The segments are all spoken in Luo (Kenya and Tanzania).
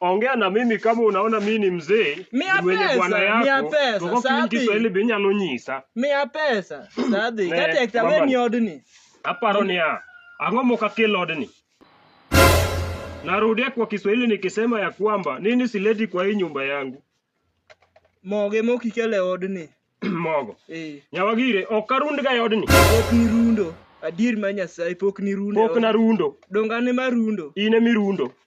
Ongea na mimi kama unaona mimi ni mzee Mia mwenye pesa, bwana mia yako. pesa, Toko sabi. kinyi Kiswahili be nyalo nyisa. Miya pesa. Sadhi. Ne, Kata ekta mama. weni odni. Aparo niya, ang'o mokakel odni? Narudia kwa Kiswahili nikisema ya kwamba nini sileti kwa hii nyumba yangu. Moge mokikele odni. Mogo. Eh. Nyawagire, ok arundga e odni. Pok ni rundo. Adier ma Nyasaye pok ni rundo. Pok narundo. Donga ne marundo. In emirundo.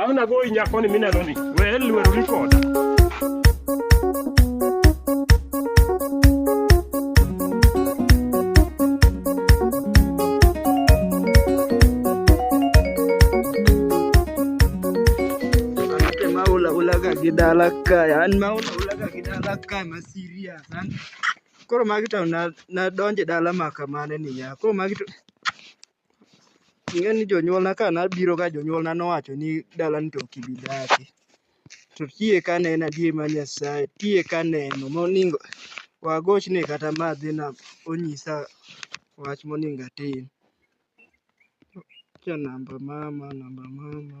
Ang' nagoyi nyakoni minenoni. We lwerori koda. Anake ma ula ulaga gi dala kae, an ma ula ulaga gi dala kae ma serious. An koro magi to na nadonje dala ma kamane niya. Koro magi to Ing'e ni jonyuolna ka nabiro ka jonyuolna nowacho ni dalani to ok ibi dake. To kiyie ka ne en adier mar Nyasaye, kiyie ka aneno moningo wagochne kata ma adhi nam onyisa wach moningo atim. Akia namba mama, namba mama.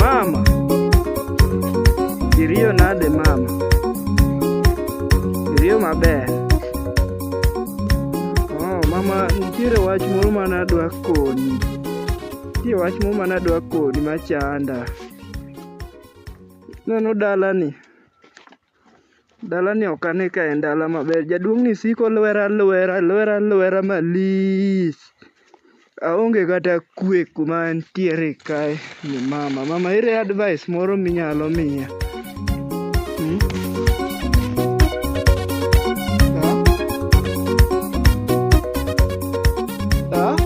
Mama, iriyo nade mama? Iriyo maber. Oh, mama nitiere wach moro mane adwa koni. Nitie wach moro mane adwa koni machanda. Ineno dalani? Dalani ok ane ka en dala maber. Jaduong'ni siko olwera alwera, lwera alwera malich. Aonge kata kwe kuma antiere kae ni mama. Mama ere advice moro minyalo miya? Hmm? Ah? Ah?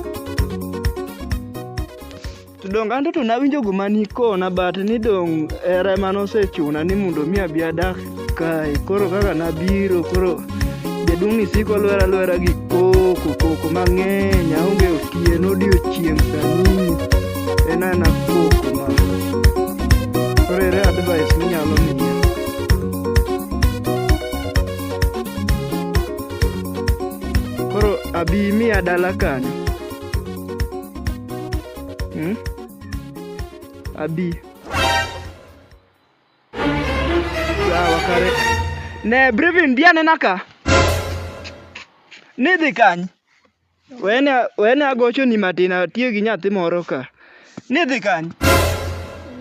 To dong anto to nawinjo guma nikona but ni dong era ema nosechuna ni mondo mi abi adak kae. Koro kaka nabiro koro jaduong' ni siko lwera lwera gi koko koko mang'eny aonge otieno odiochieng' sani en ana koko ma. Koro ere advice minyalo miya? Koro abi miya dala kanyo. Hmm? Abi. Sawa kare. Ne Brevin dia nena ka. Ni dhi kany. Wene wene agocho ni matin atiyo gi nyathi moro ka. Ni dhi kany.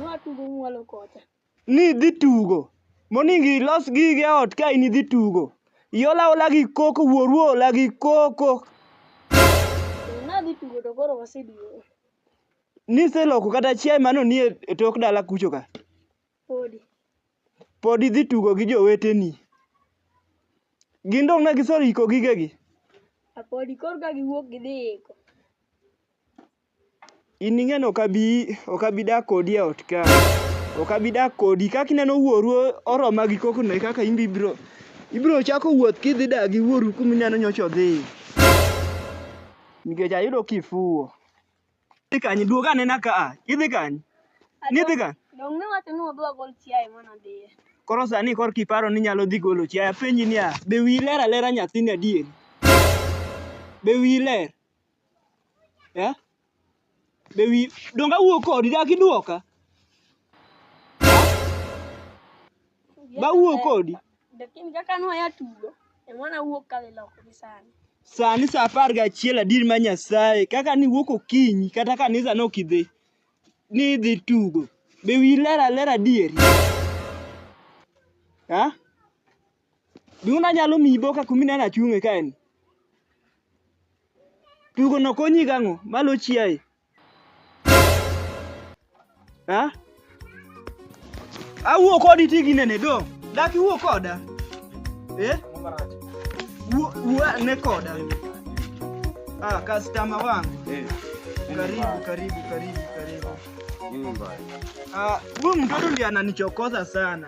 Ng'at mbumu walo kota. ni idhi tugo, moningo ilos gigi e ot ka in idhi tugo. Iola aola gi koko, wuoru oola gi koko. Nadhi tugo to koro waseduogo. Niseloko kata chiaye mano ni e e tok dala kucho ka. Podi. Pod idhi tugo gi joweteni. Gin dong' ne giseiko gigegi? Apodi koro ka giwuok gidhi iko. In ing'e ni ok abi ok abi dak kodi e ot ka. Ok abi dak kodi. Kaka ineno wuoru oroma gi koko no e kaka in be ibiro ibiro chako wuoth kidhi dak gi wuoru kuma ineno nyocha odhiye. Nikech ayudo kifuwo. Idhi kanye? Duog anena ka a. Idhi kanye? Nidhi kanye? Donge iwacho ni wadwa gol chiaye mane odhiye? Koro sani koro kiparo ni inyalo dhi golo chiaye. Apenji niya, be wiyi ler alera nyathini adieri? Be wiyi ler? Eh? Be wi donga wuo kodi dak iduoka? Ba wuo kodi. Lakini kaka nwa ya tugo, e mwana wuok ka liloko gi sani. Sani saa apar gachiel adier ma Nyasaye kaka niwuok okinyi kata kanisa ne ok idhi ni idhi tugo be wi ler aler adieri ha? Duna nyalo miyi boka kumi neno achung'e ka en. Tugo no konyi gang'o? Malo chiaye. Ha? Awuo kodi ti gi nene do. Dak iwuo koda. Eh? Wuo wuo ne koda. Ah, customer wangu. Eh. Karibu, karibu, karibu, karibu. Ah, huyu mtoto ndiye ananichokoza sana.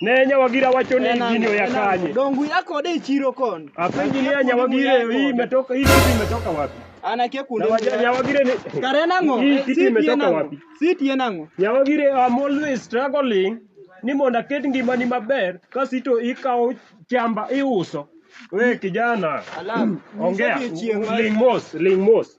Ne nyawagira wacho ni gini oya kanye. Dongu yako ode e chiro kon. Apenji ni nyawagira hii imetoka hii kitu imetoka wapi? Anakia kunde. Nyawagira ni Kare nango. Hii kitu imetoka wapi? Siti nango. Nyawagira I'm always struggling ni mondo aket ngimani maber kasito ikawo chamba iuso. We kijana. Alam. Ongea. Ling mos, ling mos.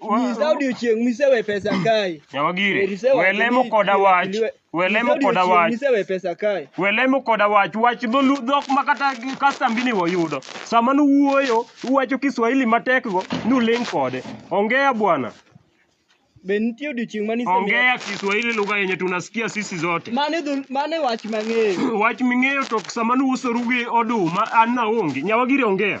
Nyisa odiochieng' misewe pesa kae. Nyawagire, Erisewa we lemo kini- koda wach, kiliwe- we nyisa lemo koda odiochieng' wach, Misewe pesa kae. we lemo koda wach, wach dholu- dhok ma kata gi kastambi ni wayudo. Sama nuwuoyo, uwacho Kiswahili matekgo, nuling' kode. Ongea bwana, Be nitie odiochieng' ma nisemiya? ongea Kiswahili lugha yenye tunasikia sisi zote. Mano e dhol- mano e wach mang'eyo. Wach ming'eyo to sama nuusoru gi oduma, an naonge. Nyawagire ongea.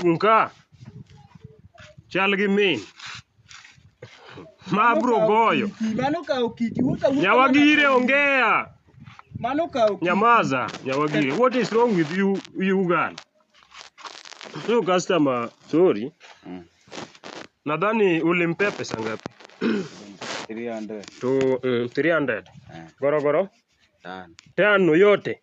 Chung' ka. Chal gi min. Ma abro goyo. Mano kawo kiti. Wuotho awuotha Nyawagire mana- ongea. Mano kawo kiti. Nyamaza, Nyawagire. What is wrong with you, you girl? So customer, sorry. Mm. Nadhani ulimpea pesa ngapi? 300. To mm, 300. Eh, Gorogoro tano. tano yote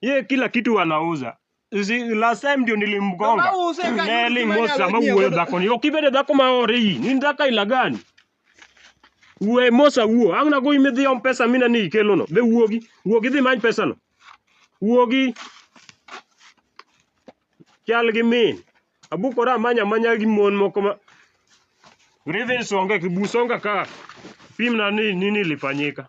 Yeye kila kitu anauza. Si last time ndio nilimgonga. Kama uuse kanyuki Neli mwenye mosa ma awenyie uwe wewe. dhako ni. Okibede dhako ma ore yi. Ni ndaka ila gani? Uwe mosa uo. Ang na go ime dhi om pesa mina ni ikelo no. Be uogi. Uogi dhi many pesa no. Uogi. Chal gi min. Abukora amanya manya gi mon moko ma. Grievance onge kibusonga ka. Pim na ni nini lifanyika.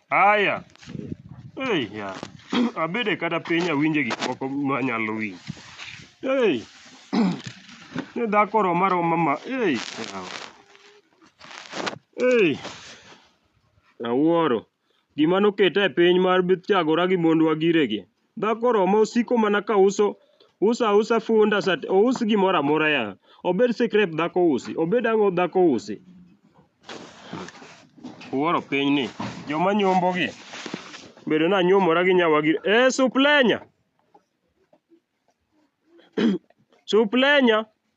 Aya. Ei ya. Abede kata piny awinje gik moko manyalo winjo. Ei. Ne dhako roma roma ma. Ei. yawa. Ei. Awuoro. Gima noketa e piny mar bithagora gi mondwa giregi. Dhako Roma osiko mana ka uso uso ausa funda sat ous gimoro amora ya. Obed sikrep dhako usi, obed ang'o dhako usi. Uworo piny ni joma nyombo gi bedo na nyomora gi nyawa gi e suplenya suplenya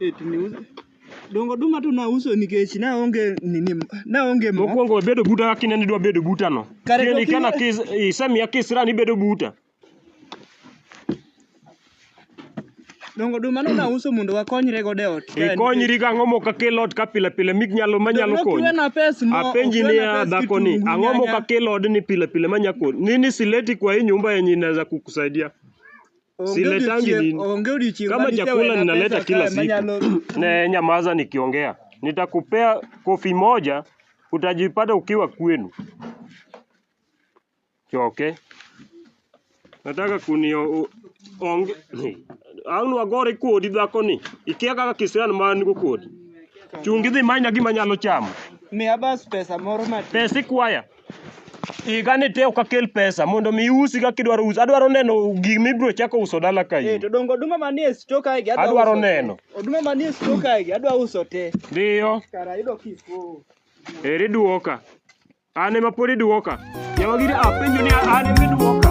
Eh, tuniuz. Dongo oduma to nauso nikech naonge nini, naonge mo. Mokwongo bedo buta kaka ineno idwa bedo buta no. Kare to Tieni kana kine- kis- isemiya kisira ni ibedo buta. Dongo oduma no nauso mondo wakonyre godo e ot. Ikonyri ka ang'o mok akel ot ka pile pile mik nyalo manyalo konyi. Kiwena pes mo. Apenji ukiwena niya pes dhako ni kitungu, ang'o mok nyanya. akel odni pile pile manya konyi. Nini sileti kwa hii nyumba yenye inaweza kukusaidia? siletangi nini? Kama chakula ninaleta kila siku ne nyamaza nikiongea, nitakupea kofi moja, utajipata ukiwa kwenu. Choke, nataka kunio onge ang' nwagore kodi dhakoni, ikia kaka kisiran ma an go kodi. Chungi dhi manya gima nyalo chamo. Miya bas pesa moro matin. Pesa ikwaya. Iga ni te ok akel pesa mondo mi iusi kaka idwaro usi. Adwaro neno gik mibiro chako uso dala ka Eh, in. to dongo oduma manie sto kae gi Adwaro uso te. neno. Oduma manie sto kae gi adwa uso te. Dhiyo, Kara yudo kifo. eri duoka. An ema pod iduoka. Yawa gidi apenjo ni an ema iduoka.